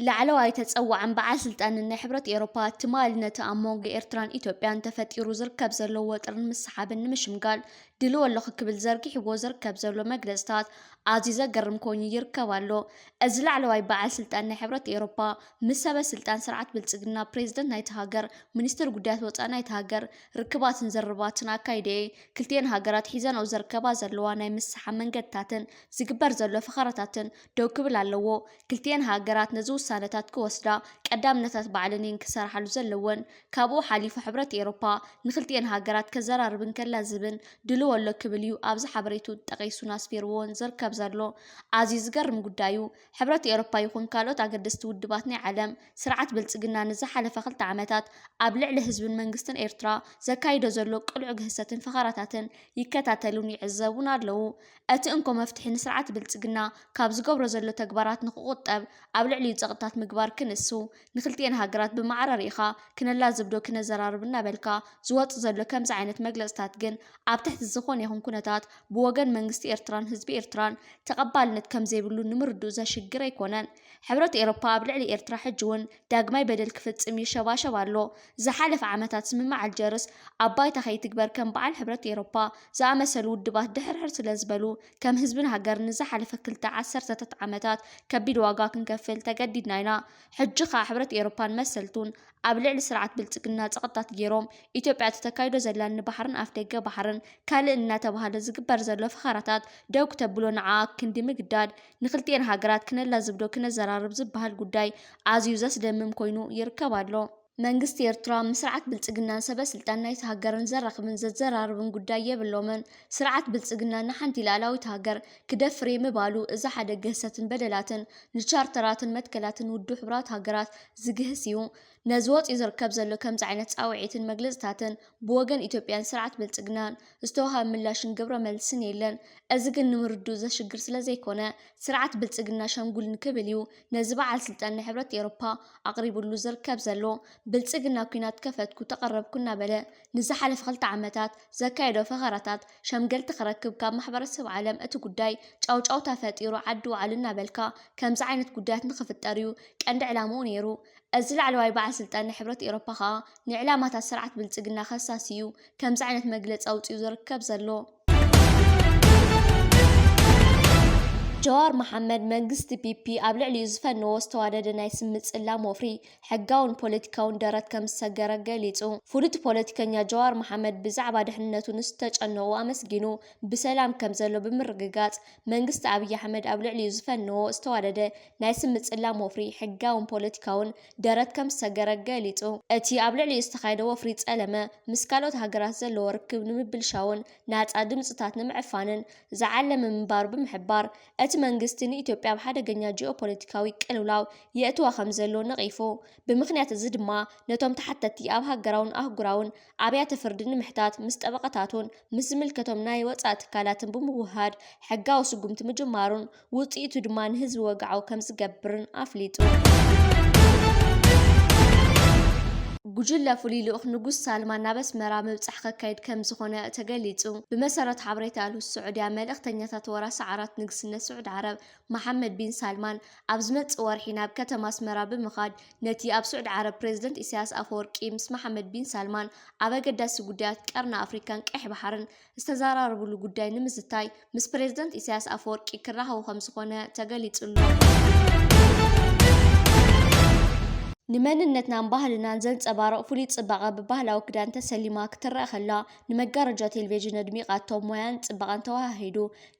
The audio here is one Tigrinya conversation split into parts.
ላዕለዋይ ተፀዋዕን በዓል ስልጣንን ናይ ሕብረት ኤሮፓ ትማሊ ነቲ ኣብ መንጎ ኤርትራን ኢትዮጵያን ተፈጢሩ ዝርከብ ዘሎ ወጥርን ምስሓብን ንምሽምጋል ድልዎ ኣለኹ ክብል ዘርጊሕዎ ዝርከብ ዘሎ መግለፅታት ኣዝዩ ዘገርም ኮይኑ ይርከብ ኣሎ። እዚ ላዕለዋይ በዓል ስልጣን ናይ ሕብረት ኤሮፓ ምስ ሰበ ስልጣን ስርዓት ብልፅግና፣ ፕሬዝደንት ናይታ ሃገር፣ ሚኒስትር ጉዳያት ወፃኢ ናይታ ሃገር ርክባትን ዝርርባትን ኣካይደ'የ። ክልቲኤን ሃገራት ሒዘንኦ ዝርከባ ዘለዋ ናይ ምስሕሓብ መንገድታትን ዝግበር ዘሎ ፈኸራታትን ደው ክብል ኣለዎ። ክልቲኤን ሃገራት ነዚ ውሳነታት ክወስዳ ቀዳምነታት ባዕለን እየን ክሰርሓሉ ዘለወን። ካብኡ ሓሊፉ ሕብረት ኤሮፓ ንክልቲኤን ሃገራት ከዘራርብን ከላዝብን ድልዎ ኣሎ ክብል እዩ ኣብዚ ሓበሬትኡ ጠቒሱን ኣስፊርዎን ዝርከብ ዘሎ። ኣዝዩ ዝገርም ጉዳይ'ዩ። ሕብረት ኤውሮፓ ይኹን ካልኦት ኣገደስቲ ውድባት ናይ ዓለም፣ ስርዓት ብልጽግና ንዝሓለፈ ክልተ ዓመታት ኣብ ልዕሊ ህዝብን መንግስትን ኤርትራ ዘካይዶ ዘሎ ቅሉዕ ግህሰትን ፈኸራታትን ይከታተሉን ይዕዘቡን ኣለዉ። እቲ እንኮ መፍትሒ ንስርዓት ብልጽግና ካብ ዝገብሮ ዘሎ ተግባራት ንኽቑጠብ ኣብ ልዕሊኡ ጸቕጥታት ምግባር ክንሱ ንክልቲኤን ሃገራት ብማዕረ ሪኢኻ ክነላዝብዶ ክነዘራርብ እናበልካ ዝወጽእ ዘሎ ከምዚ ዓይነት መግለጽታት ግን ኣብ ትሕቲ ዝኾነ ይኹን ኩነታት ብወገን መንግስቲ ኤርትራን ህዝቢ ኤርትራን ተቐባልነት ከምዘይብሉ ንምርድኡ ዘሽግር ኣይኮነን። ሕብረት ኤሮፓ ኣብ ልዕሊ ኤርትራ ሕጂ'ውን ዳግማይ በደል ክፍጽም ይሸባሸብ ኣሎ። ዝሓለፈ ዓመታት ስምምዕ ኣልጀርስ ኣብ ባይታ ከይትግበር ከም በዓል ሕብረት ኤሮፓ ዝኣመሰሉ ውድባት ድሕርሕር ስለዝበሉ ከም ህዝብን ሃገርን ንዝሓለፈ ክልተ ዓሰርተታት ዓመታት ከቢድ ዋጋ ክንከፍል ተገዲድና ኢና። ሕጂ ከኣ ሕብረት ኤሮፓን መሰልቱን ኣብ ልዕሊ ስርዓት ብልጽግና ጸቕጥታት ጌሮም ኢትዮጵያ እቲ ተካይዶ ዘላ ንባሕርን ኣፍደገ ባሕርን ካልእን እናተባህለ ዝግበር ዘሎ ፈኸራታት ደው ክተብሎ ንዓኣ ክንዲ ምግዳድ ንክልቲኤን ሃገራት ክነላዝብዶ ክነዘራርብ ዝበሃል ጉዳይ ኣዝዩ ዘስደምም ኮይኑ ይርከብ ኣሎ። መንግስቲ ኤርትራ ምስ ስርዓት ብልጽግናን ሰበ ስልጣን ናይታ ሃገርን ዘራኽብን ዘዘራርብን ጉዳይ የብሎምን። ስርዓት ብልጽግና ንሓንቲ ልኣላዊት ሃገር ክደፍር'የ ምባሉ እዚ ሓደ ግህሰትን በደላትን ንቻርተራትን መትከላትን ውድብ ሕቡራት ሃገራት ዝግህስ'ዩ። ነዚ ወጺኡ ዝርከብ ዘሎ ከምዚ ዓይነት ጻውዒትን መግለጽታትን ብወገን ኢትዮጵያን ስርዓት ብልጽግናን ዝተዋህበ ምላሽን ግብረ መልስን የለን። እዚ ግን ንምርድኡ ዘሽግር ስለዘይኮነ ስርዓት ብልጽግና ሸምጉል ንክብል'ዩ ነዚ በዓል ስልጣን ናይ ሕብረት ኤውሮፓ ኣቕሪብሉ ዝርከብ ዘሎ ብልጽግና ኩናት ከፈትኩ ተቐረብኩ እናበለ ንዝሓለፈ ክልተ ዓመታት ዘካየዶ ፈኸራታት ሸምገልቲ ክረክብ ካብ ማሕበረሰብ ዓለም እቲ ጉዳይ ጫውጫውታ ፈጢሩ ዓዲ ውዓሉ እናበልካ ከምዚ ዓይነት ጉዳያት ንኽፍጠር እዩ ቀንዲ ዕላምኡ ነይሩ። እዚ ላዕለዋይ በዓል ስልጣን ናይ ሕብረት ኤውሮፓ ከኣ ንዕላማታት ስርዓት ብልጽግና ከሳሲ እዩ ከምዚ ዓይነት መግለፂ ኣውፂኡ ዝርከብ ዘሎ። ጀዋር መሓመድ መንግስቲ ፒፒ ኣብ ልዕሊኡ ዝፈነዎ ዝተዋደደ ናይ ስም ምፅላም ወፍሪ ሕጋውን ፖለቲካውን ደረት ከም ዝሰገረ ገሊፁ። ፍሉጥ ፖለቲከኛ ጀዋር መሓመድ ብዛዕባ ድሕንነቱ ንዝተጨነቑ ኣመስጊኑ ብሰላም ከም ዘሎ ብምርግጋፅ መንግስቲ ኣብይ ኣሕመድ ኣብ ልዕሊኡ ዝፈነዎ ዝተዋደደ ናይ ስም ምፅላም ወፍሪ ሕጋውን ፖለቲካውን ደረት ከም ዝሰገረ ገሊጹ። እቲ ኣብ ልዕሊኡ ዝተኻየደ ወፍሪ ጸለመ፣ ምስ ካልኦት ሃገራት ዘለዎ ርክብ ንምብልሻውን ናጻ ድምጽታት ንምዕፋንን ዝዓለመ ምንባሩ ብምሕባር፣ እቲ መንግስቲ ንኢትዮጵያ ኣብ ሓደገኛ ጂኦፖለቲካዊ ቅልውላው የእትዋ ከምዘሎ ነቒፉ። ብምኽንያት እዚ ድማ ነቶም ተሓተቲ ኣብ ሃገራውን ኣህጉራውን ኣብያተ ፍርዲ ንምሕታት ምስ ጠበቓታቱን ምስ ዝምልከቶም ናይ ወፃኢ ትካላትን ብምውህሃድ ሕጋዊ ስጉምቲ ምጅማሩን ውፅኢቱ ድማ ንህዝቢ ወግዓዊ ከምዝገብርን ኣፍሊጡ። ጉጅለ ፍሉይ ልኡኽ ንጉስ ሳልማን ናብ ኣስመራ ምብጻሕ ከካይድ ከም ዝኾነ ተገሊጹ። ብመሰረት ሓበሬታ ኣልሁስ ስዑድያ መልእኽተኛታት ወራሲ ዓራት ንግስነት ስዑድ ዓረብ መሓመድ ቢን ሳልማን ኣብ ዝመጽእ ወርሒ ናብ ከተማ ኣስመራ ብምኻድ ነቲ ኣብ ሱዕዲ ዓረብ ፕረዚደንት ኢሳያስ ኣፈወርቂ ምስ መሓመድ ቢን ሳልማን ኣብ ኣገዳሲ ጉዳያት ቀርኒ ኣፍሪካን ቀይሕ ባሕርን ዝተዘራረብሉ ጉዳይ ንምዝታይ ምስ ፕረዚደንት ኢሳያስ ኣፈወርቂ ክራኸቡ ከምዝኾነ ተገሊፁ'ሎ። ንመንነትናን ባህልናን ዘንጸባርቕ ፍሉይ ጽባቐ ብባህላዊ ክዳን ተሰሊማ ክትረኣ ከላ ንመጋረጃ ቴሌቪዥን ኣድሚቓቶ ሞያን ጽባቐን ተወሃሂዱ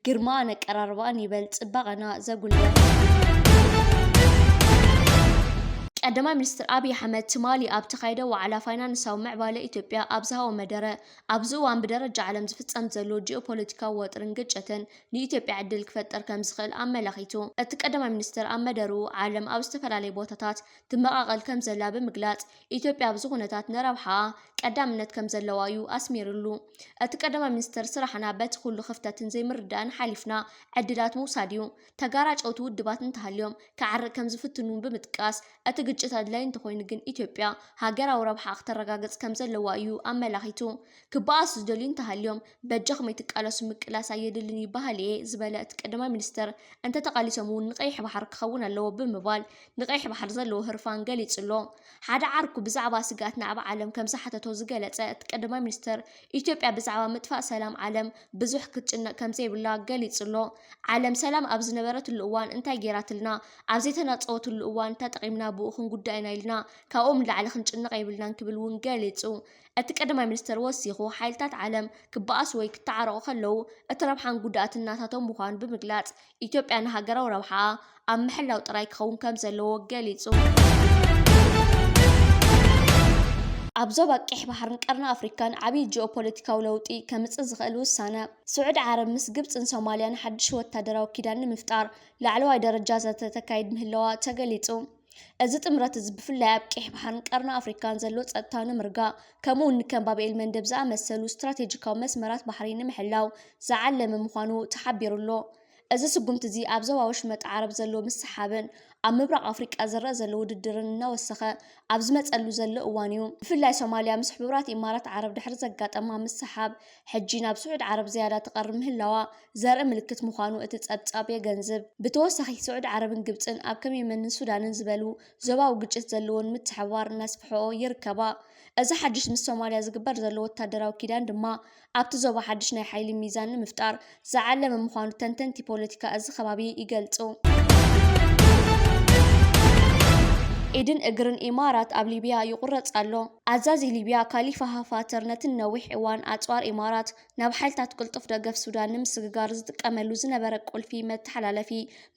ግርማኣን ኣቀራርባኣን ይበል ጽባቐና ዘጉልሕ። ቀዳማይ ሚኒስትር ኣብይ ኣሕመድ ትማሊ ኣብ ተኻይደ ዋዕላ ፋይናንሳዊ ምዕባለ ኢትዮጵያ ኣብ ዝሃቦ መደረ፣ ኣብዚ እዋን ብደረጃ ዓለም ዝፍጸም ዘሎ ጂኦፖለቲካዊ ወጥሪን ግጭትን ንኢትዮጵያ ዕድል ክፈጥር ከምዝኽእል ኣመላኺቱ። እቲ ቀዳማይ ሚኒስትር ኣብ መደርኡ፣ ዓለም ኣብ ዝተፈላለዩ ቦታታት ትመቓቐል ከምዘላ ብምግላጽ፣ ኢትዮጵያ ኣብዚ ኩነታት ንረብሓኣ ቀዳምነት ከምዘለዋ'ዩ ኣስሚርሉ። እቲ ቀዳማይ ሚኒስተር ስራሕና በቲ ኩሉ ክፍተትን ዘይምርድዳእን ሓሊፍና ዕድላት ምውሳድ'ዩ። ተጋራጨውቲ ውድባት እንተሃልዮም ክዓርቅ ከምዝፍትን'ውን ብምጥቃስ፣ እቲ ግጭት ኣድላይ እንተኾይኑ ግን ኢትዮጵያ ሃገራዊ ረብሓኣ ክተረጋግጽ ከምዘለዋ'ዩ ኣመላኺቱ። ክበኣሱ ዝደልዩ እንተሃልዮም በጃኹም ኣይትቃለሱ ምቅላስ ኣየድልን ይበሃል እየ ዝበለ እቲ ቀዳማይ ሚኒስትር፣ እንተተቓሊሶም እውን ንቀይሕ ባሕሪ ክኸውን ኣለዎ ብምባል ንቀይሕ ባሕሪ ዘለዎ ህርፋን ገሊጹ'ሎ። ሓደ ዓርኩ ብዛዕባ ስግኣት ናብ ዓለም ከምዝሓተቶ ዝገለጸ እቲ ቀዳማይ ሚኒስትር፣ ኢትዮጵያ ብዛዕባ ምጥፋእ ሰላም ዓለም ብዙሕ ክትጭነቕ ከምዘይብላ ገሊጹ'ሎ። ዓለም ሰላም ኣብ ዝነበረትሉ እዋን እንታይ ገይራትልና፣ ኣብ ዘይተናጸወትሉ እዋን ተጠቒምና ብኡ ክንጉዳእ ኢና ኢልና ካብኦም ንላዕሊ ክንጭነቕ የብልናን ክብል እውን ገሊጹ። እቲ ቀዳማይ ሚኒስተር ወሲኹ፣ ሓይልታት ዓለም ክበኣሱ ወይ ክተዓረቑ ከለዉ እቲ ረብሓን ጉድኣትን ናታቶም ምዃኑ ብምግላጽ፣ ኢትዮጵያ ንሃገራዊ ረብሓኣ ኣብ ምሕላው ጥራይ ክኸውን ከም ዘለዎ ገሊጹ። ኣብ ዞባ ቀይሕ ባሕርን ቀርኒ ኣፍሪካን ዓብዪ ጂኦፖለቲካዊ ለውጢ ከምፅእ ዝኽእል ውሳነ ስዑድ ዓረብ ምስ ግብፅን ሶማልያን ሓድሽ ወታደራዊ ኪዳን ንምፍጣር ላዕለዋይ ደረጃ ዘተ ተካይድ ምህለዋ ተገሊፁ። እዚ ጥምረት እዚ ብፍላይ ኣብ ቀይሕ ባሕርን ቀርኒ ኣፍሪካን ዘሎ ፀጥታ ንምርጋእ ከምኡ እውን ከም ባብ ኤል መንደብ ዝኣመሰሉ ስትራቴጂካዊ መስመራት ባሕሪ ንምሕላው ዝዓለመ ምዃኑ ተሓቢሩ ኣሎ። እዚ ስጉምቲ እዚ ኣብ ዞባ ወሽመጥ ዓረብ ዘሎ ምስሓብን ኣብ ምብራቕ ኣፍሪቃ ዝረኣ ዘሎ ውድድርን እናወሰኸ ኣብ ዝመፀሉ ዘሎ እዋን እዩ። ብፍላይ ሶማሊያ ምስ ሕቡራት ኢማራት ዓረብ ድሕሪ ዘጋጠማ ምስሓብ ሕጂ ናብ ስዑድ ዓረብ ዝያዳ ትቐርብ ምህላዋ ዘርኢ ምልክት ምዃኑ እቲ ጸብጻብ የገንዝብ። ብተወሳኺ ስዑድ ዓረብን ግብጽን ኣብ ከም የመንን ሱዳንን ዝበሉ ዞባዊ ግጭት ዘለወን ምትሕብባር እናስፍሕኦ ይርከባ። እዚ ሓድሽ ምስ ሶማልያ ዝግበር ዘሎ ወታደራዊ ኪዳን ድማ ኣብቲ ዞባ ሓድሽ ናይ ሓይሊ ሚዛን ንምፍጣር ዝዓለመ ምዃኑ ተንተንቲ ፖለቲካ እዚ ከባቢ ይገልጹ። ኢድን እግርን ኢማራት ኣብ ሊብያ ይቑረጽ ኣሎ። ኣዛዚ ሊብያ ካሊፋ ሃፋተር ነቲ ንነዊሕ እዋን ኣጽዋር ኢማራት ናብ ሓይልታት ቅልጡፍ ደገፍ ሱዳን ንምስግጋር ዝጥቀመሉ ዝነበረ ቁልፊ መተሓላለፊ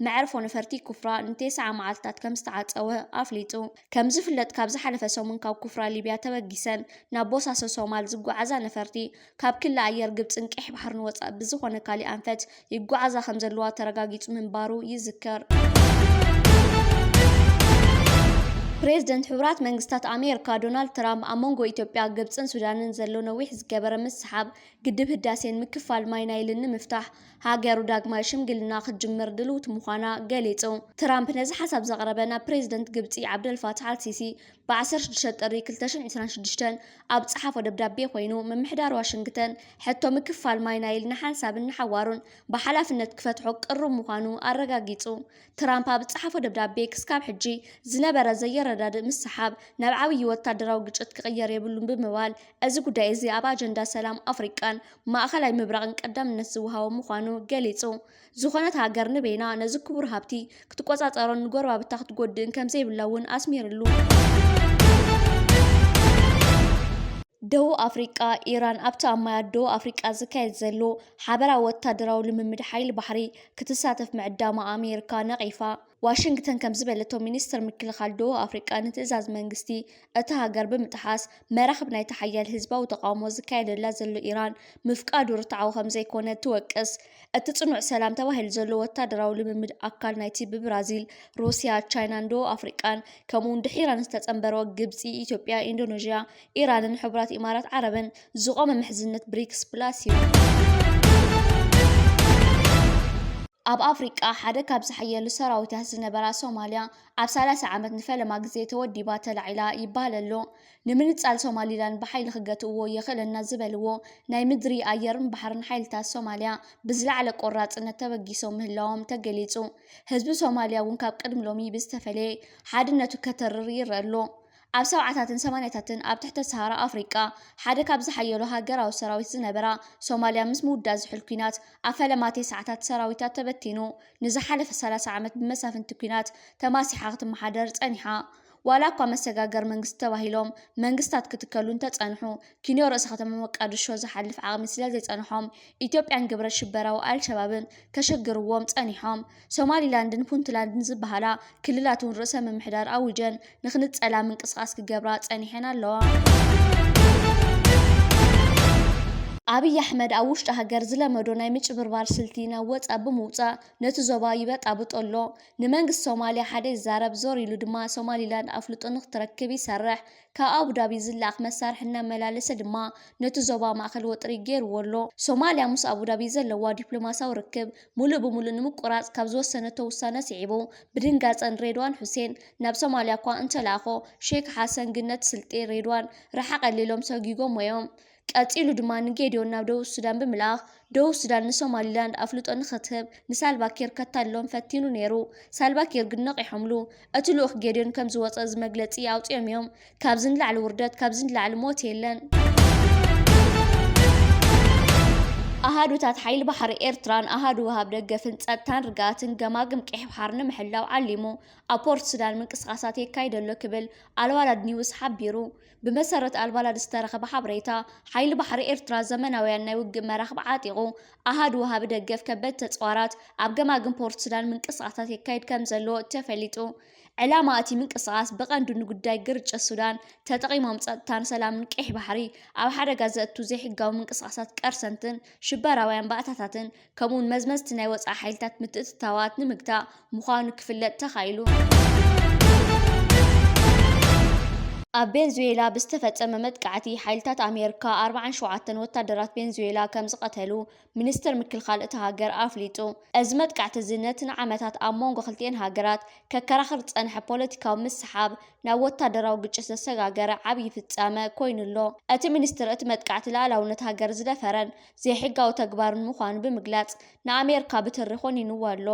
መዕርፎ ነፈርቲ ኩፍራ ንቴስዓ መዓልትታት ከም ዝተዓጸወ ኣፍሊጡ። ከም ዝፍለጥ ካብ ዝሓለፈ ሰሙን ካብ ኩፍራ ሊብያ ተበጊሰን ናብ ቦሳሶ ሶማል ዝጓዓዛ ነፈርቲ ካብ ክሊ ኣየር ግብጽን ቀይሕ ባሕርን ወጻኢ ብዝኾነ ካሊእ ኣንፈት ይጓዓዛ ከምዘለዋ ተረጋጊጹ ምንባሩ ይዝከር። ፕሬዝደንት ሕቡራት መንግስታት ኣሜሪካ ዶናልድ ትራምፕ ኣብ መንጎ ኢትዮጵያ፣ ግብጽን ሱዳንን ዘሎ ነዊሕ ዝገበረ ምስሓብ ግድብ ህዳሴን ምክፋል ማይ ናይልን ንምፍታሕ ሃገሩ ዳግማይ ሽምግልና ክትጅምር ድልውቲ ምዃና ገሊጹ። ትራምፕ ነዚ ሓሳብ ዘቕረበ ናብ ፕሬዝደንት ግብጺ ዓብደልፋታሕ ኣልሲሲ ብ16 ጥሪ 2026 ኣብ ዝጸሓፎ ደብዳቤ ኮይኑ፣ ምምሕዳር ዋሽንግተን ሕቶ ምክፋል ማይ ናይል ንሓንሳብን ንሓዋሩን ብሓላፍነት ክፈትሖ ቅሩብ ምዃኑ ኣረጋጊጹ። ትራምፕ ኣብ ዝጸሓፎ ደብዳቤ ክስካብ ሕጂ ዝነበረ ዘየረዳድእ ምስሓብ ናብ ዓብዪ ወታደራዊ ግጭት ክቕየር የብሉን ብምባል እዚ ጉዳይ እዚ ኣብ ኣጀንዳ ሰላም ኣፍሪቃን ማእከላይ ምብራቕን ቀዳምነት ዝወሃቦ ምዃኑ ገሊጹ። ዝኾነት ሃገር ንበይና ነዚ ክቡር ሃብቲ ክትቆፃፀሮን ንጎረባብታ ክትጎድእን ከምዘይብላ እውን ኣስሚርሉ። ደቡብ ኣፍሪቃ ኢራን ኣብቲ ኣብ ማያት ደቡብ ኣፍሪቃ ዝካየድ ዘሎ ሓበራዊ ወታደራዊ ልምምድ ሓይሊ ባሕሪ ክትሳተፍ ምዕዳማ ኣሜሪካ ነቒፋ። ዋሽንግተን ከም ዝበለቶ ሚኒስትር ምክልኻል ደቡብ ኣፍሪቃ ንትእዛዝ መንግስቲ እታ ሃገር ብምጥሓስ መራኽብ ናይቲ ሓያል ህዝባዊ ተቃውሞ ዝካየደላ ዘሎ ኢራን ምፍቃዱ ርትዓዊ ከም ዘይኮነ ትወቅስ። እቲ ጽኑዕ ሰላም ተባሂሉ ዘሎ ወታደራዊ ልምምድ ኣካል ናይቲ ብብራዚል፣ ሩስያ፣ ቻይናን ደቡብ ኣፍሪቃን ከምኡውን ድሒረን ዝተጸንበሮ ግብጺ፣ ኢትዮጵያ፣ ኢንዶነዥያ፣ ኢራንን ሕቡራት ኢማራት ዓረብን ዝቖመ ምሕዝነት ብሪክስ ፕላስ እዩ። ኣብ ኣፍሪቃ ሓደ ካብ ዝሓየሉ ሰራዊታት ዝነበራ ሶማልያ ኣብ ሰላሳ ዓመት ንፈለማ ግዜ ተወዲባ ተላዒላ ይበሃል ኣሎ። ንምንጻል ሶማሊላንድ ብሓይሊ ክገትእዎ የኽእለና ዝበልዎ ናይ ምድሪ፣ ኣየርን ባሕርን ሓይልታት ሶማልያ ብዝለዓለ ቆራጽነት ተበጊሶም ምህላዎም ተገሊጹ። ህዝቢ ሶማልያ እውን ካብ ቅድሚ ሎሚ ብዝተፈለየ ሓድነቱ ከተርር ይረኣ ኣሎ። ኣብ ሰብዓታትን ሰማንያታትን ኣብ ትሕተ ሰሃራ ኣፍሪቃ ሓደ ካብ ዝሓየሉ ሃገራዊ ሰራዊት ዝነበራ ሶማልያ ምስ ምውዳእ ዝሑል ኲናት ኣብ ፈለማ ቴስዓታት ሰራዊታ ተበቲኑ ንዝሓለፈ ሰላሳ ዓመት ብመሳፍንቲ ኲናት ተማሲሓ ክትመሓደር ጸኒሓ። ዋላ እኳ መሰጋገሪ መንግስቲ ተባሂሎም መንግስታት ክትከሉ እንተጸንሑ፣ ኪንዮ ርእሰ ከተማ ሞቃድሾ ዝሓልፍ ዓቕሚ ስለዘይጸንሖም፣ ኢትዮጵያን ግብረ ሽበራዊ ኣልሸባብን ከሸግርዎም ጸኒሖም። ሶማሊላንድን ፑንትላንድን ዝበሃላ ክልላት'ውን ርእሰ ምምሕዳር ኣዊጀን ንክንጸላ ምንቅስቓስ ክገብራ ጸኒሐን ኣለዋ። ኣብይ ኣሕመድ ኣብ ውሽጢ ሃገር ዝለመዶ ናይ ምጭብርባር ስልቲ ናብ ወጻእ ብምውጻእ ነቲ ዞባ ይበጣብጦ ኣሎ። ንመንግስቲ ሶማልያ ሓደ ይዛረብ፣ ዞር ኢሉ ድማ ሶማሊላንድ ኣፍልጦ ንኽትረክብ ይሰርሕ። ካብ ኣቡዳቢ ዝለኣኽ መሳርሒ እናመላለሰ ድማ ነቲ ዞባ ማእከል ወጥሪ ገይሩዎ ኣሎ። ሶማልያ ምስ ኣቡዳቢ ዘለዋ ዲፕሎማስያዊ ርክብ ምሉእ ብምሉእ ንምቁራጽ ካብ ዝወሰነቶ ውሳነ ስዒቡ፣ ብድንጋጸ ንሬድዋን ሑሴን ናብ ሶማልያ'ኳ እንተለኣኾ፣ ሼክ ሓሰን ግን ነቲ ስልጢ ሬድዋን ርሓቐለይ ኢሎም ሰጒጎሞ'ዮም። ቀጺሉ ድማ ንጌድዮን ናብ ደቡብ ሱዳን ብምልኣኽ፣ ደቡብ ሱዳን ንሶማሊላንድ ኣፍልጦ ንኽትህብ ንሳልቫ ኪር ከታልሎም ፈቲኑ ነይሩ። ሳልቫ ኪር ግን ነቒሖምሉ። እቲ ልኡኽ ጌድዮን ከም ዝወጸ እዚ መግለጺ ኣውጺኦም እዮም። ካብዚ ንላዕሊ ውርደት፣ ካብዚ ንላዕሊ ሞት የለን። ኣሃዱታት ሓይሊ ባሕሪ ኤርትራን ኣሃዱ ወሃብ ደገፍን ጸጥታን ርግኣትን ገማግም ቀይሕ ባሕሪ ንምሕላው ዓሊሙ ኣብ ፖርት ሱዳን ምንቅስቓሳት የካይድ ኣሎ ክብል ኣልዋላድ ኒውስ ሓቢሩ። ብመሰረት ኣልባላድ ዝተረኸበ ሓበሬታ፣ ሓይሊ ባሕሪ ኤርትራ ዘመናውያን ናይ ውግእ መራኽብ ዓጢቑ፣ ኣሃዱ ወሃቢ ደገፍ ከበድቲ ተጽዋራት ኣብ ገማግም ፖርት ሱዳን ምንቅስቓሳት የካይድ ከምዘሎ ተፈሊጡ። ዕላማ እቲ ምንቅስቓስ ብቐንዱ ንጉዳይ ግርጭት ሱዳን ተጠቒሞም ጸጥታን ሰላምን ቀይሕ ባሕሪ ኣብ ሓደጋ ዘእቱ ዘይሕጋዊ ምንቅስቓሳት ቀርሰንትን ሽበራውያን ባእታታትን ከምኡውን መዝመዝቲ ናይ ወፃኢ ሓይልታት ምትእትታዋት ንምግታእ ምዃኑ ክፍለጥ ተኻኢሉ። ኣብ ቬንዙዌላ ብዝተፈፀመ መጥቃዕቲ ሓይልታት ኣሜሪካ ኣርብዓን ሸውዓተን ወታደራት ቬንዙዌላ ከም ዝቐተሉ ሚኒስትር ምክልኻል እታ ሃገር ኣፍሊጡ። እዚ መጥቃዕቲ እዚ ነቲ ንዓመታት ኣብ መንጎ ክልቲኤን ሃገራት ከከራኽር ዝፀንሐ ፖለቲካዊ ምስሓብ ናብ ወታደራዊ ግጭት ዘሰጋገረ ዓብዪ ፍፃመ ኮይኑ ኣሎ። እቲ ሚኒስትር እቲ መጥቃዕቲ ልኣላውነት ሃገር ዝደፈረን ዘይሕጋዊ ተግባርን ምዃኑ ብምግላጽ ንኣሜርካ ብትሪ ኮኒኑዋ ኣሎ።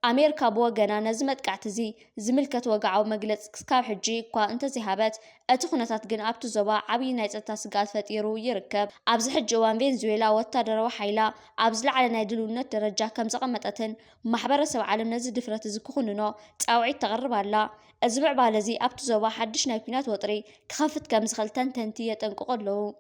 ኣሜርካ ብወገና ነዚ መጥቃዕቲ'ዚ ዝምልከት ወግዓዊ መግለጽ ክስካብ ሕጂ እኳ እንተዘይሃበት፣ እቲ ኩነታት ግን ኣብቲ ዞባ ዓብዪ ናይ ጸጥታ ስግኣት ፈጢሩ ይርከብ። ኣብዚ ሕጂ እዋን ቬንዙዌላ ወታደራዊ ሓይላ ኣብ ዝለዓለ ናይ ድልውነት ደረጃ ከም ዘቐመጠትን ማሕበረሰብ ዓለም ነዚ ድፍረት'ዚ ክኹንኖ ጻውዒት ተቕርብ ኣላ። እዚ ምዕባለ'ዚ ኣብቲ ዞባ ሓድሽ ናይ ኲናት ወጥሪ ክኸፍት ከም ዝኽእል ተንተንቲ የጠንቅቑ ኣለዉ።